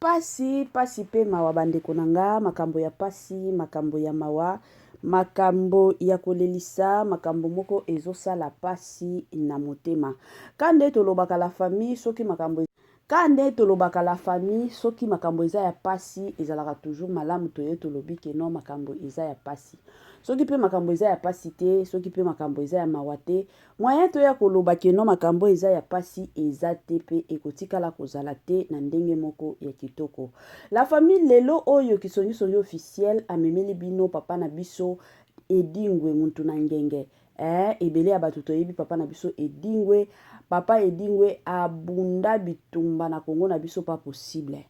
Pasi, pasi pe mawa ba ndeko na nga, makambo ya pasi, makambo ya mawa, makambo ya ko lelisa, makambo moko ezo sala pasi na motema. Ka nde to lobaka la famille soki makambo, ka nde to lobaka la famille soki makambo eza ya pasi ezalaka toujours malamu to ye to lobi ke non makambo eza ya pasi. Soki pe makambo eza ya pasi te, soki pe makambo eza ya mawa te, Moyen toya koloba que non makambo oyo eza ya pasi eza te pe ekotikala kozala te na ndenge moko ya kitoko. La famille lelo oyo kisongi songi officiel amemeli bino papa na biso Edingwe muntu na ngenge eh ebele ya batu toyebi papa na biso Edingwe papa Edingwe abunda bitumba na Congo na biso pas possible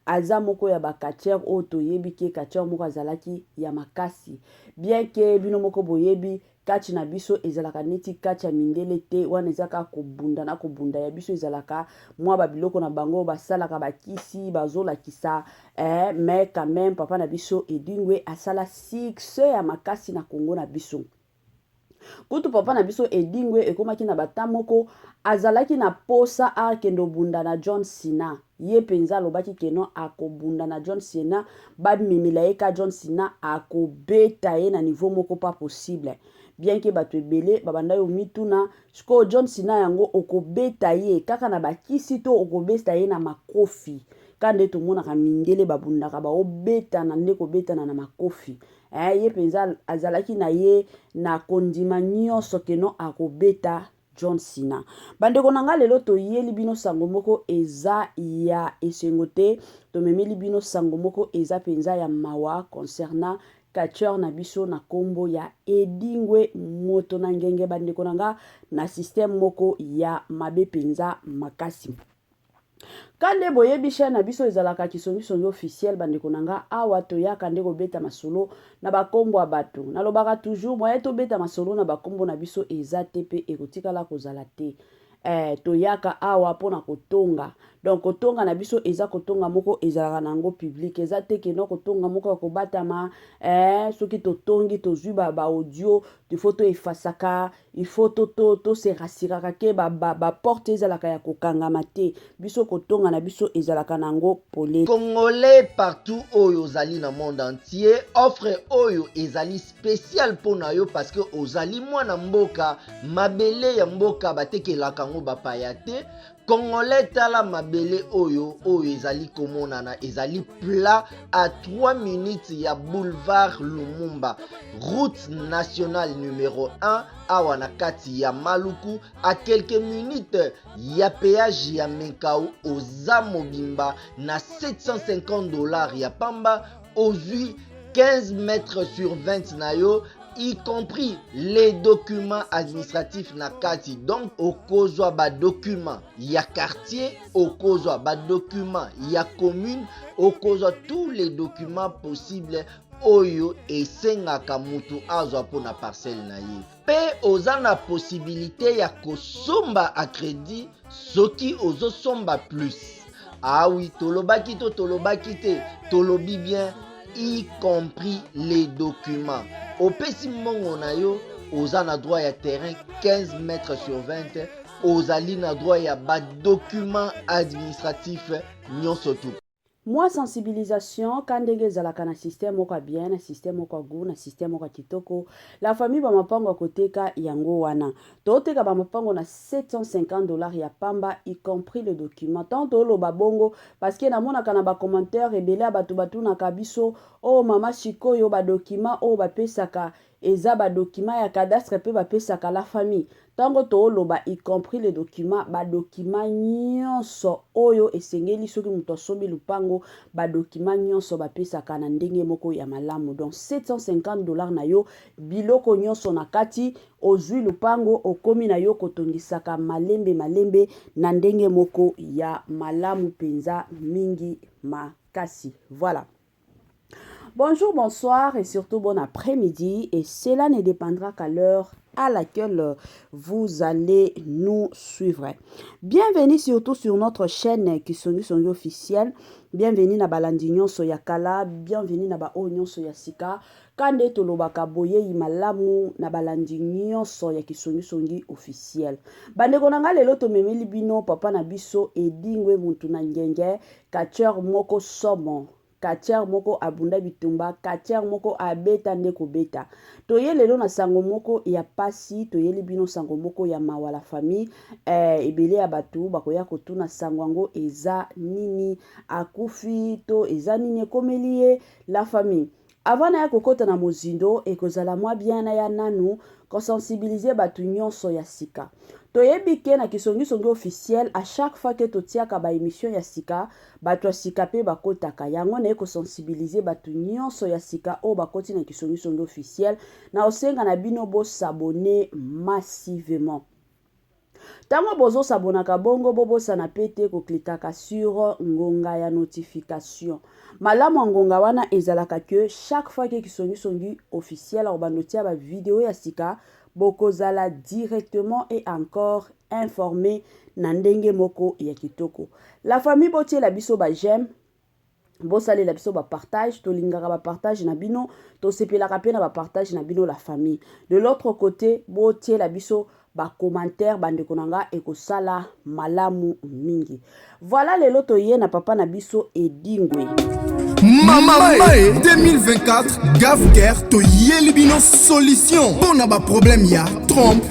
aza moko ya ba catcheur oyo toyebi ke catcheur moko azalaki ya makasi bien ke bino moko boyebi Catch na biso ezalaka neti catch ya mindele te, wana eza kaka kobunda na kobunda. Ya biso ezalaka mwa ba biloko na bango basalaka bakisi bazolakisa eh, mais quand même papa na biso Edingwe asala succès ya makasi na Congo na biso kutu papa na biso edingwe ekomaki na bata moko azalaki na posa akende obunda na john sina Ye penza alobaki que non ako bunda na John Cena, ba memela ye ka John Cena ako beta ye na niveau moko pas possible. Bien que batu ebele ba bandaki ko mituna, sikoyo John Cena yango oko beta ye kaka na ba kisi to oko besta ye na makofi? Ka nde to monaka mindele ba bundaka bao betana nde ko betana na makofi eh ye penza azalaki na ye na ko ndima nionso que non ako beta John Cena. Bandeko na nga lelo toyeli bino sango moko eza ya esengo te, tomemeli bino sango moko eza penza ya mawa concernant catcheur na biso na kombo ya Edingwe moto na ngenge bandeko na nga na système moko ya mabe penza makasi. Kande boyebi chaîne na biso ezalaka kisongi songi officiel bandeko na nga awa toyaka nde kobeta masolo na bakombo ya bato nalobaka toujours moye tobeta masolo na bakombo na biso eza te mpe ekotikala kozala te eh, toyaka awa mpo na kotonga donc kotonga na biso eza kotonga moko ezalaka na yango public eza te keno kotonga moko ya kobatama eh, soki totongi tozwi baaudio tifo toefasaka il faut to to to se rassuraka ke ba ba, ba porte ezalaka ya kokangama te biso kotonga na biso ezalaka na yango pole congolais partout oyo ozali na monde entier offre oyo ezali spécial mpo na yo parce que ozali mwana mboka mabele ya mboka batekelaka yango bapaya te Congolais tala mabele oyo oyo ezali komonana ezali plat à 3 minutes ya boulevard Lumumba route nationale numero 1 awa na kati ya Maluku à quelques minutes ya péage ya Menkau oza mobimba na 750 dollars ya pamba ozwi 15 mètres sur 20 na yo y compris les documents administratifs na kati donc okozwa badocument ya quartier okozwa badocument ya commune okozwa tous les documents possibles oyo esengaka moto azwa mpo na parcelle na ye mpe oza na posibilite ya kosomba a credit soki ozosomba plus awi ah tolobaki to tolobaki te tolobi bien y compris les documents opesi mbongo na yo oza na droit ya terrain 15 mètre sur 20 ozali na droit ya badocument administratif nyonso tu Mua sensibilisation ka ndenge ezalaka na système moko ya bien, na système moko ya gout, na système moko ya kitoko. La famille ba mapango ya koteka yango wana. Toteka ba mapango na 750 dollars ya pamba y compris le document. Tant toloba bongo parce que namonaka na ba commentaires ebele ya batu batunaka biso, oh mama sikoyo ba documents oyo bapesaka Eza ba documents ya cadastre pe bapesaka la famille. Tango too loba y compris les documents, ba documents nionso oyo esengeli soki mutu asombi lupango, ba documents nionso bapesaka na ndenge moko ya malamu. Donc 750 dollars na yo, biloko nionso na kati, ozui lupango, okomi na yo kotongisaka malembe malembe na ndenge moko ya malamu penza mingi makasi. Voilà. Bonjour, bonsoir et surtout bon après-midi. Et cela ne dépendra qu'à l'heure à laquelle euh, vous allez nous suivre. Bienvenue surtout sur notre chaîne Kisongi Songi officielle. Bienvenue na balandi nyonso ya kala, bienvenue na ba oyo nyonso ya sika. Kande tolobaka boyeyi malamu na balandi nyonso ya Kisongi Songi officielle. Bandeko na ngai lelo tomemeli bino papa na biso Edingwe Muntuna Ngenge Catcheur moko somo. Catcheur moko abunda bitumba, catcheur moko abeta nde kobeta. Toye lelo na sango moko ya pasi, toyeli bino sango moko ya mawa la famille. Eh, ebele ya batu bakoya kotuna sango yango eza nini? Akufi to eza nini ekomeli ye? La famille. Avant naya kokota na mozindo, ekozala mwa bien naya nanu ko sensibiliser batu nionso ya sika. Toyebi que na Kisongisongi officiel, à chaque fois que totiaka ba emissions ya sika, batu ya sika pe bakotaka. Yango naye ko sensibiliser batu nionso ya sika oyo bakoti na Kisongisongi officiel, nakosenga na bino bo s'abonner massivement. Tango bozo sabonaka bongo bo bosana pe te ko clickaka sur ngonga ya notification. Malamu ya ngonga wana ezalaka que chaque fois que Kisongi Songi officiel akobanda otia ba video ya sika, bokozala directement et encore informe na ndenge moko ya kitoko. La famille botiela biso ba j'aime. bosalela biso bapartage tolingaka bapartage na bino tosepelaka mpe na bapartage na bino la famille de l'autre côté botiela biso bacommentaire bandeko na nga ekosala malamu mingi voilà lelo toye na papa na biso edingwe mamae 2024 gafker toyeli bino solution mpo na baproblème ya trompe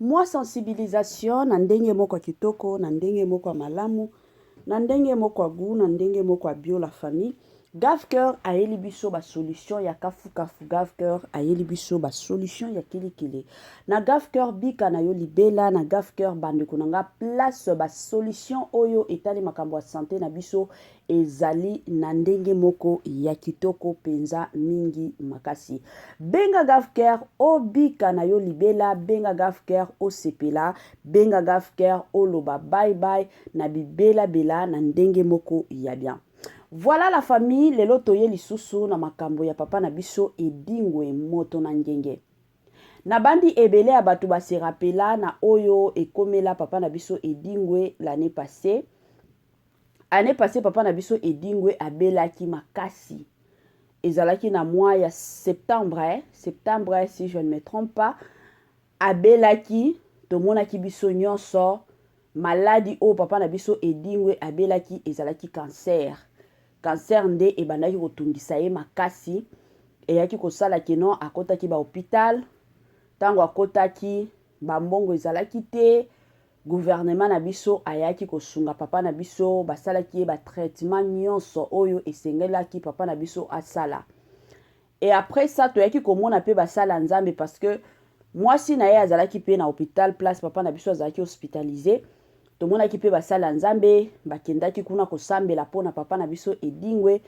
Mwa sensibilisation na ndenge moko ya kitoko, na ndenge moko ya malamu, na ndenge moko ya gout, na ndenge moko ya bio la famille. Gavcœur ayeli biso ba solution ya kafukafu. Gavcœur ayeli biso ba solution ya kilikili. Na Gavcœur bika na yo libela, na Gavcœur bandeko na nga place ba solution oyo etali makambo ya sante na biso Ezali na ndenge moko ya kitoko mpenza mingi makasi. Benga Gafker obika na yo libela, benga Gafker osepela, benga Gafker oloba bye bye na bibela bela na ndenge moko ya bien. Voilà la famille, lelo toye lisusu na makambo ya papa na biso Edingwe moto na ngenge. Nabandi ebele ya bato ba se rappela na oyo ekomela papa na biso Edingwe l'annee passee. Annee passee papa na biso Edingwe abelaki makasi. Ezalaki na mois ya septembre, eh? septembre si je ne me trompe pas, abelaki tomonaki biso nyonso maladi oyo papa na biso Edingwe abelaki ezalaki cancer. Cancer nde ebandaki kotungisa ye makasi, eyaki kosala kino akotaki ba hopital, ntango akotaki bambongo ezalaki te, Gouvernement na biso ayaki kosunga papa na biso, basalaki ye ba traitements nionso oyo esengelaki papa na biso asala. Et après ça, toyaki komona pe basali ya Nzambe parce que mwasi na ye azalaki pe na hopital place papa na biso azalaki hospitaliser. Tomonaki pe basali ya Nzambe bakendaki kuna kosambela po na papa na biso Edingwe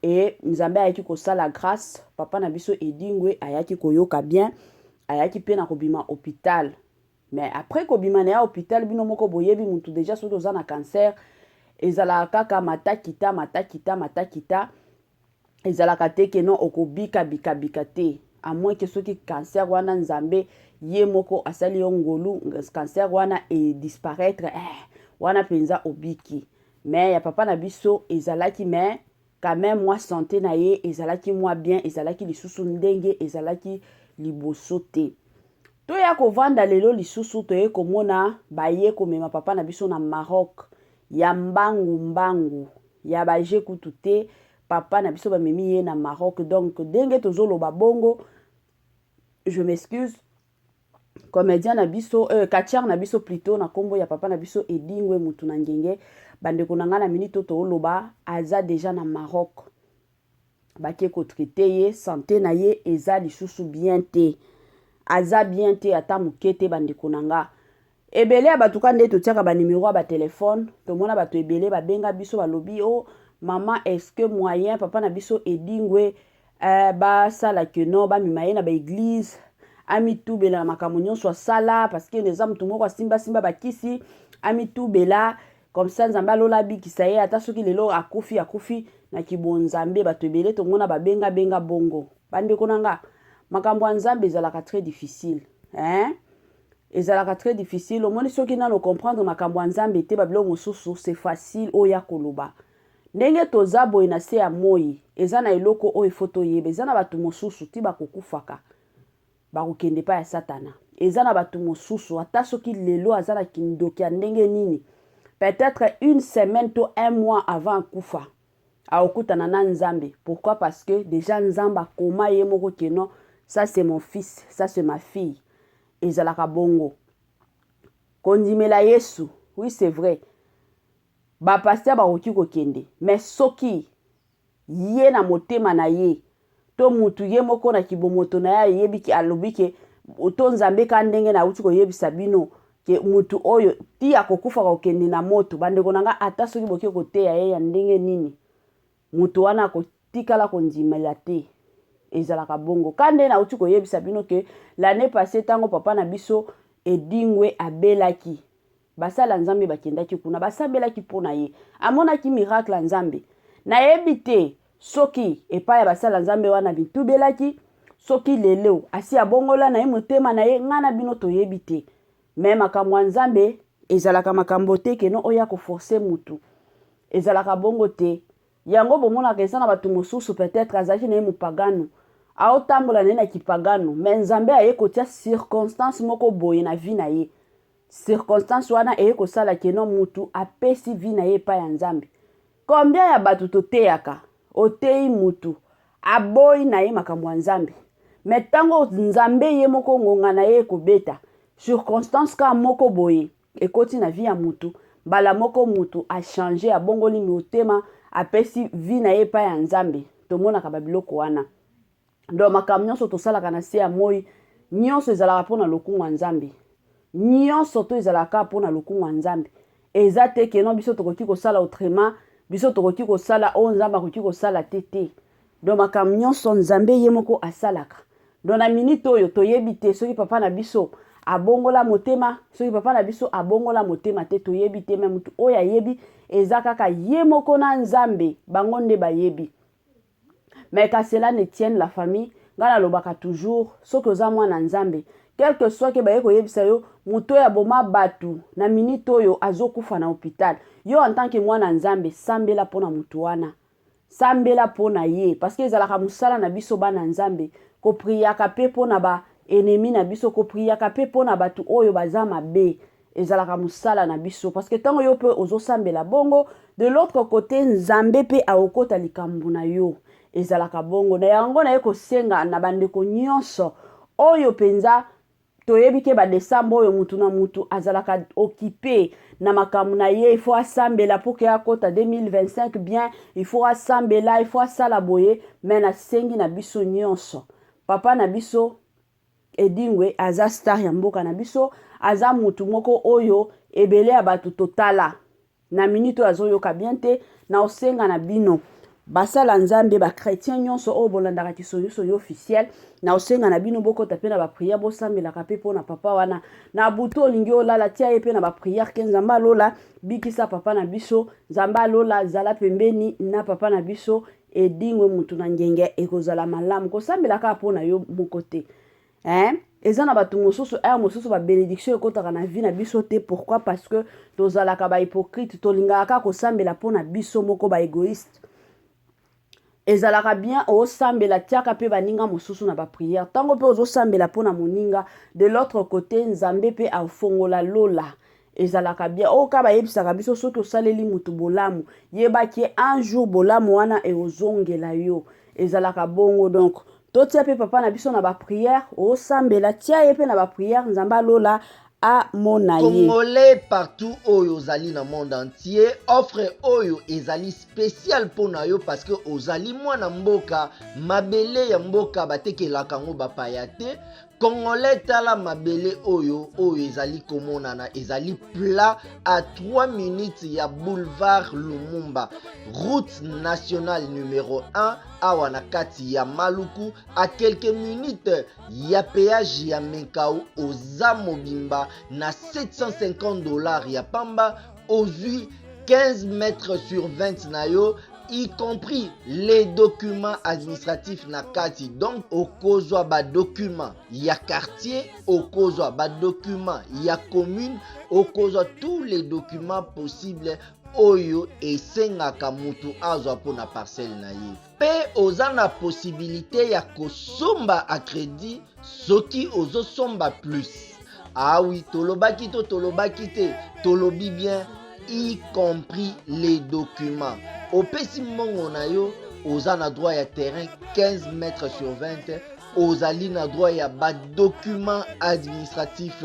et Nzambe ayaki kosala grace, papa na biso Edingwe ayaki koyoka bien, ayaki pe na kobima hopital. Mais après kobima na ya hopital bino moko boyebi mutu deja soki oza na cancer ezalaka kaka mata kita mata kita mata kita ezalaka te ke non okobika bika bika te à moins que soki cancer wana nzambe ye moko asali yo ngolu cancer wana e disparaître eh, wana penza obiki mais ya papa na biso ezalaki mais Quand meme mwa sante na ye ezalaki mwa bien, ezalaki lisusu ndenge ezalaki liboso te. Toya kovanda lelo lisusu toye komona baye komema papa na biso na Maroc ya mbangu mbangu ya ba je kutu te papa na biso bamemi ye na Maroc donc ndenge tozoloba bongo je m'excuse comedien na biso euh, catcheur na biso plutot na kombo ya papa na biso edingwe mutu na ngenge bandeko na ngai na minute oyo tooloba aza deja na maroc bake kotraite ye sante na ye eza lisusu bien te aza bien te ata moke te bandeko na ngai Ebele ya bato ka nde totiaka ba numero ya ba telephone tomona bato ebele babenga biso balobi o oh, mama est-ce que moyen papa na biso edingwe eh, basala que non bamema ye na ba eglise amitubela na makambo nyonso asala parce que eza moto moko asimbasimba bakisi amitubela comme ça nzambe alola abikisa ye ata soki lelo akufi akufi na kibonzambe bato ebele tomona babenga benga bongo bandeko na nga makambo ya nzambe ezalaka très difficile hein? Ezalaka très difficile omoni soki nano comprendre makambo ya Nzambe te ba biloko mosusu c'est facile oya koloba ndenge toza boye na se ya moyi eza na eloko oyo ifo toyeba eza na bato mosusu ti bakokufaka bakokende pa ya satana eza na bato mosusu ata soki lelo aza na kindoki ya ndenge nini peut-être une semaine to un mois avant akufa akokutana na nzambe pourquoi parce que dejà nzambe akoma ye moko que non ça c'est mon fils ça c'est ma fille ezalaka bongo kondimela yesu oui c'est vrai bapaster bakoki kokende mais soki ye na motema na ye to mutu ye moko na kibomoto na ye ayebi ke alobi ke to nzambe ka ndenge na uti koyebisa bino ke mutu oyo ti akokufa kokende na moto bandeko na nga ata soki boke koteya ye ya ndenge nini mutu wana akotikala kondimela te ezalaka bongo ka nde nauti koyebisa bino ke l'année passée ntango papa na biso edingwe abelaki Basali ya Nzambe bakendaki kuna, basambelaki mpo na ye. Amonaki miracle ya Nzambe. Nayebi te soki epai ya basali ya Nzambe wana bitubelaki, soki lelo asi abongola na ye motema na ye, ngai na bino toyebi te. Me makambo ya Nzambe ezalaka makambo te keno oya koforce mutu. Ezalaka bongo te. Yango bomonaka eza na bato mosusu peut-être azalaki na ye mopagano aotambola na ye na kipagano me nzambe aye kotia circonstance moko boye na vie na ye Circonstance wana eye kosala que non mutu apesi vie na ye epai ya Nzambe. Combien ya batu toteyaka, oteyi mutu, aboyi na ye makambo ya Nzambe. Mais tango Nzambe ye moko ngonga na ye ekobeta, circonstance ka moko boye ekoti na vie ya mutu, mbala moko mutu a changer, abongoli motema, apesi vie na ye epai ya Nzambe. Tomonaka ba biloko wana. donc makambo nyonso tosalaka na se ya moi nyonso ezalaka mpo na lokumu ya nzambe nyonso to ezalaka kaka mpo na lokumu ya nzambe eza te keno biso tokoki kosala autrement biso tokoki kosala oyo nzambe akoki kosala te te donc makambo nyonso nzambe ye moko asalaka donc na minite oyo toyebi te soki papa na biso abongola motema soki papa na biso abongola motema te toyebi te me motu oyo ayebi eza kaka ye moko na nzambe bango nde bayebi Mais qu'à cela ne tienne la famille nga na lobaka toujours soki oza mwana nzambe quelque soit ke baye koyebisa yo moto oyo aboma batu na minute oyo azo kufa na hopital yo en tant que mwana nzambe sambela pona moto wana sambela pona ye parce que ezalaka musala na biso bana nzambe ko priaka pe pona ba enemi na biso ko priaka pe pona batu oyo baza mabe ezalaka musala na biso parce que tango yo pe ozosambela bongo de l'autre côté nzambe pe akokota likambo na yo ezalaka bongo na yango naye kosenga na bandeko nyonso oyo mpenza toyebi ke badesembre oyo mutu na mutu azalaka okipe na makambo na ye ifo asambela mpo ke akota 2025 bien ifo asambela ifo asala boye me nasengi na biso nyonso papa na biso Edingwe aza star ya mboka na biso, aza mutu moko oyo ebele ya batu totala na minute oyo azoyoka bien te, na osenga na bino basala nzambe ba chretien nyonso oyo bolandaka kisongisongi officiel na osenga na bino bokota mpe na bapriere bosambelaka mpe mpo na papa wana na butu olingi olala tia ye mpe na bapriere ke nzambe alola bikisa papa na biso nzambe alola zala pembeni na papa na biso Edingwe mutu na ngenge ekozala malamu kosambela kaka mpo na yo moko te hein? eza na bato mosusu heure mosusu ba benediction ekotaka na vie na biso te pourquoi parce que tozalaka ba hypocrite tolingaka kaka kosambela mpo na biso moko ba egoïste ezalaka bien osambela tiaka mpe baninga mosusu na bapriere ntango mpe ozosambela mpo na moninga de l'autre côté nzambe mpe afongola lola ezalaka bien oyo oh, ka bayebisaka biso soki osaleli motu bolamu yebaki un jour bolamu wana ekozongela yo ezalaka bongo donc totia mpe papa na biso na bapriere osambela tia ye mpe na bapriere nzambe alola amona ye congolais partout oyo ozali na monde entier offre oyo ezali spécial mpo na yo parce que ozali mwana mboka mabele ya mboka batekelaka yango bapaya te Congolais tala mabele oyo oyo ezali komonana ezali plat à 3 minutes ya boulevard Lumumba route nationale numero 1 awa na kati ya Maluku à quelques minutes ya péage ya Menkau oza mobimba na 750 dollars ya pamba ozwi 15 mètres sur 20 na yo y compris les documents administratifs na kati donc okozwa badocument ya quartier okozwa badocument ya commune okozwa tous les documents possibles oyo esengaka moto azwa mpo na parcelle na ye mpe oza na posibilite ya kosomba a credit soki ozosomba plus awi ah tolobaki to tolobaki te tolobi bien y compris les documents opesi mbongo na yo oza na droit ya terrain 15 mètres sur 20 ozali na droit ya badocument administratif